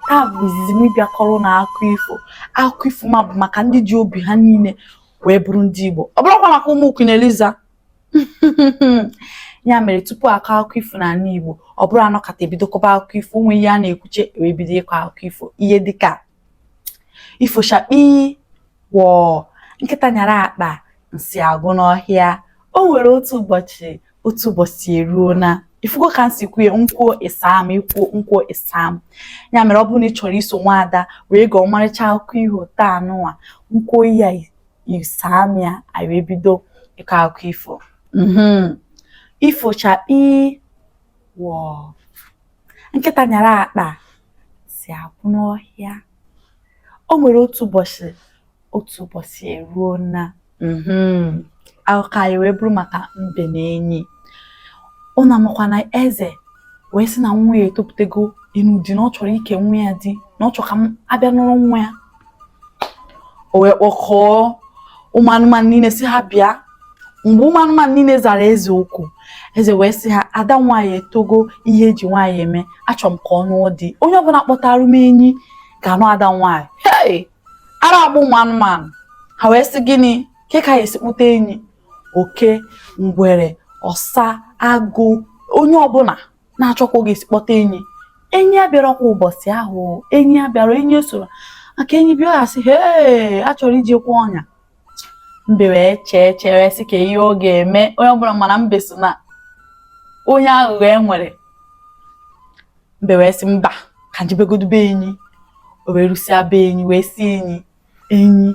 taa bụ izizi m ịbịa kọrọ ụnụ akụkọ ifo akụkọ ifo m a bụ maka ndị ji obi ha niile wee bụrụ ndị Igbo ọ bụrụkwa maka ụmụ Queen Eliza ya mere tupu a kọọ akụkọ ifo n'ala Igbo ọ bụrọ a nọkata e bido kọba akụkọ ifo o nwe ihe a na-ekwucha e wee bido ịkọ akụkọ ifo ihe dịka ifo chakpii wọọ nkịta nyara akpa nsị agwụ n'ọhịa o nwere otu ụbọchị otu ụbọchị eruona ị fụgo ka m si kwuo ya m kwuo ị saa m ị kwuo m kwuo ị saa m ya mere ọ bụrụ na ị chọrọ iso nwaada wee gụọ ọmarịcha akụkọ iho taa nụwa m kwuo ya ị saa m ya anyị wee bido ịkọ akụkọ ifo mhm. ifo chakpii wọọ nkịta nyara akpa nsị agwụ n'ọhịa o nwere otu ụbọchị otu ụbọchị eruona mhm, akụkọ anyị wee bụrụ maka mbe na enyi ụnụ amakwa na eze wee sị na nwa ya etopụtago ịnụ di na ọ chọrọ ike nwa ya di na ọ chọrọ ka m abịa nụrụ nwa ya o wee kpọkọọ ụmụ anụmanụ niile sị ha bịa mgbe ụmụ anụmanụ niile zara eze oku eze wee sị ha ada m nwaanyị etogo ihe e ji nwaanyị eme achọrọ m ka ọ nụọ di onye ọbụla kpọtara m enyi ga-anụ ada m nwaanyị hey! ara agbaa ụmụ anụmanụ ha wee sị gịnị kee ka a ya-esi kpụta enyi oke ngwere ọsa agụ onye ọbụla na-achọkwa ọ ga-esi kpọta enyi enyi abịarọkwa ụbọchị ahụ enyi abịarọ enyi esorọ maka enyi bịa ya sị hee a chọrọ iji kwa ọnya mbe wee chee chee wee sị kee ihe ọ ga-eme onye ọbụla mana mbe so na onye aghụghọ e nwere mbe wee sị mba ka m jebegodu be enyi o wee rusịa be enyi wee sị enyi enyi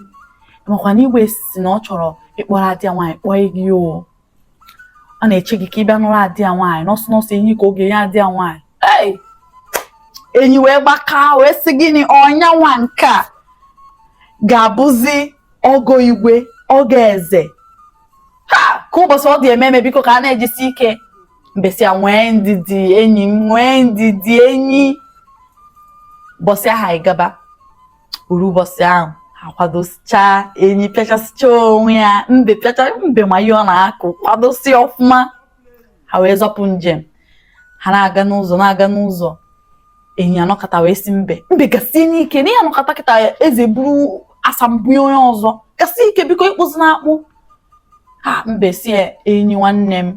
ị makwa na igwe sị na ọ chọrọ ịkpọrọ ada ya nwaanyị kpọọ gị o a na-eche gị ka ị bịa nụrụ ada ya nwaanyị n'ọsọ n'ọsọ enyi ka ọ ga-enye ada ya nwaanyị enyi wee gbakaa wee sị gịnị ọ nya nwa nke a ga-abụzi ọgọ igwe ọgọ eze ha kee ụbọchị ọ dị ememe biko ka a na-ejisi ike mbe sị ya nwee ndidi enyi m nwee ndidi enyi ụbọchị ahụ anyị agaba o ruo ụbọchị ahụ a kwadosichaa enyi pịachasịchaa onwe ya mbe pịacha mbe ma ihe ọ na-akụ kwadosi ọfụma ha wee zọpụ njem ha na-aga n'ụzọ na-aga n'ụzọ enyi anọkata wee sị mbe mbe gasienụ ike na anyị anọkata kịta eze buru asa m bunye onye ọzọ gasie ike biko ị kpụzina akpụ ha mbe sị ya enyi nwanne m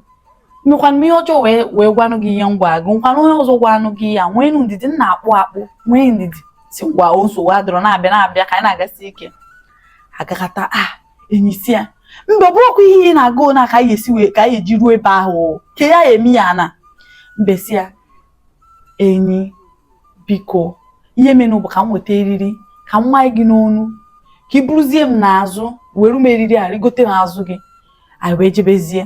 mekwana m ihe ọjọọ wee wee gwanụ gị ihe m gwa gị nkwana onye ọzọ gwanụ gị ya nwee ndidi m na-akpụ akpụ nwee ndidi sị ngwa o nsogbu adịrọ na-abịa na-abịa ka anyị na-agasi ike agakata a ah, enyi sị ya mbe ọ bụrụkwa ihe ị na-aga na ka anyị esi wee ka anyị eji ruo ebe ahụ ka ya eme ya na mbe sị ya enyi biko ihe menụ bụ ka m weta eriri ka m manye gị n'onu ka ị buruzie m n'azụ were m eriri a rigote n'azụ gị anyị wee jebezie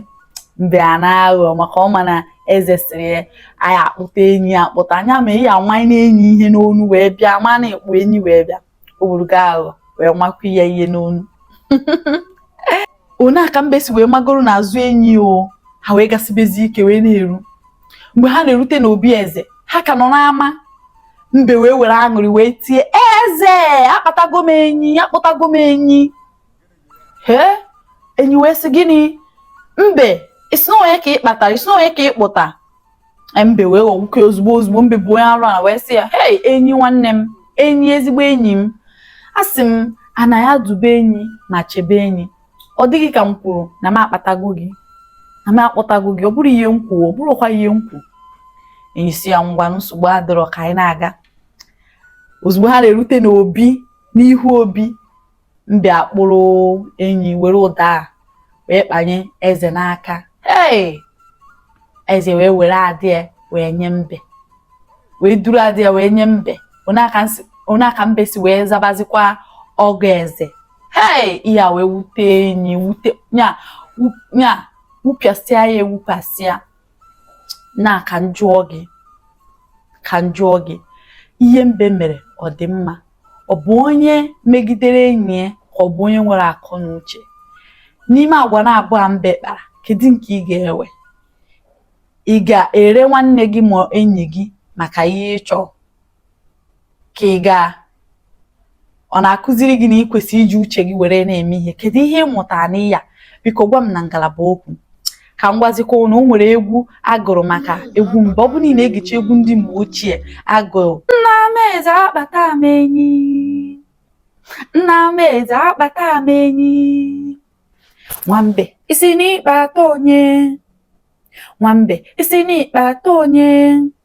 mbe a na-aghọ maka ọ ma na eze sịrị ya anyị akpụta enyi akpụta anya ma ị ya amanye n'enyi ihe n'onu wee bịa ma na-akpụ enyi wee bịa o were aghụghọ wee makwa ya ihe n'onu o nee aka mbe si wee magoro n'azụ enyi o ha wee gasibezi ike wee na-eru mgbe ha na-erute n'obi eze ha ka nọ n'ama mbe wee were aṅụrị wee tie eze akpatago m enyi akpụtago m enyi hee enyi wee sị gịnị mbe ị sị na onye ka ị kpatara ị sị na onye ka ị kpụta e, mbe wee ghọ nwoke ozugbo ozugbo mbe bụ onye arụ ala wee sị ya hei enyi nwanne m enyi ezigbo enyi m asị m ana ya dube enyi na chebe enyi ọ dị gị ka m kwuru na m akpatago gị na m akpụtago gị ọ bụrọ ihe m kwuru ọ bụrọkwa ihe m kwuru enyi sị ya ngwa nsogbu adịrọ ka anyị na-aga ozugbo ha na-erute n'obi n'ihu obi Mbe akpụrụ enyi were ụdọ a wee kpanye eze n'aka. Ee! Eze wee were ada ya wee nye mbe. Wee duru ada ya wee nye mbe. O nee aka mbe si wee zabazikwa ọgọ eze. Ee! Ihe a wee wute enyi wute nya nya wupịasịa ya ewupịasịa. na ka m jụọ gị ka m jụọ gị ihe mbe mere ọ dị mma ọ bụ onye megidere enyi ya ka ọ bụ onye nwere akọ na uche n'ime agwa na abụọ mbe kpara kedu nke ị ga-ewe ị ga-ere nwanne gị ma enyi gị maka ihe ị chọ ka ị gaa ọ na-akụziri gị na ị kwesịrị iji uche gị were na-eme ihe kedu ihe ị mụtara na ya biko gwa m na ngalaba okwu ka m gwazikwa na o nwere egwu a gụrụ maka egwu mbe ọ bụrụ na ị na-egechi egwu ndị mgbe ochie a gụrụ nna m eze akpata m enyi nna m eze akpata m enyi nwambe ị sị na ị kpata onye nwambe ị sị na ị kpata onye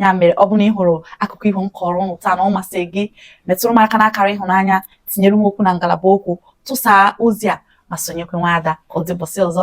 ya mere ọ bụrụ na ị hụrụ akụkọ iho m kọrọ ụnụ taa na ọ masị gị metụrụ m aka n'akara ịhụnanya tinyere m okwu na ngalaba okwu tụsaa ozi a ma sonyekwa nwa ada ka ọ dị ụbọsị ọzọ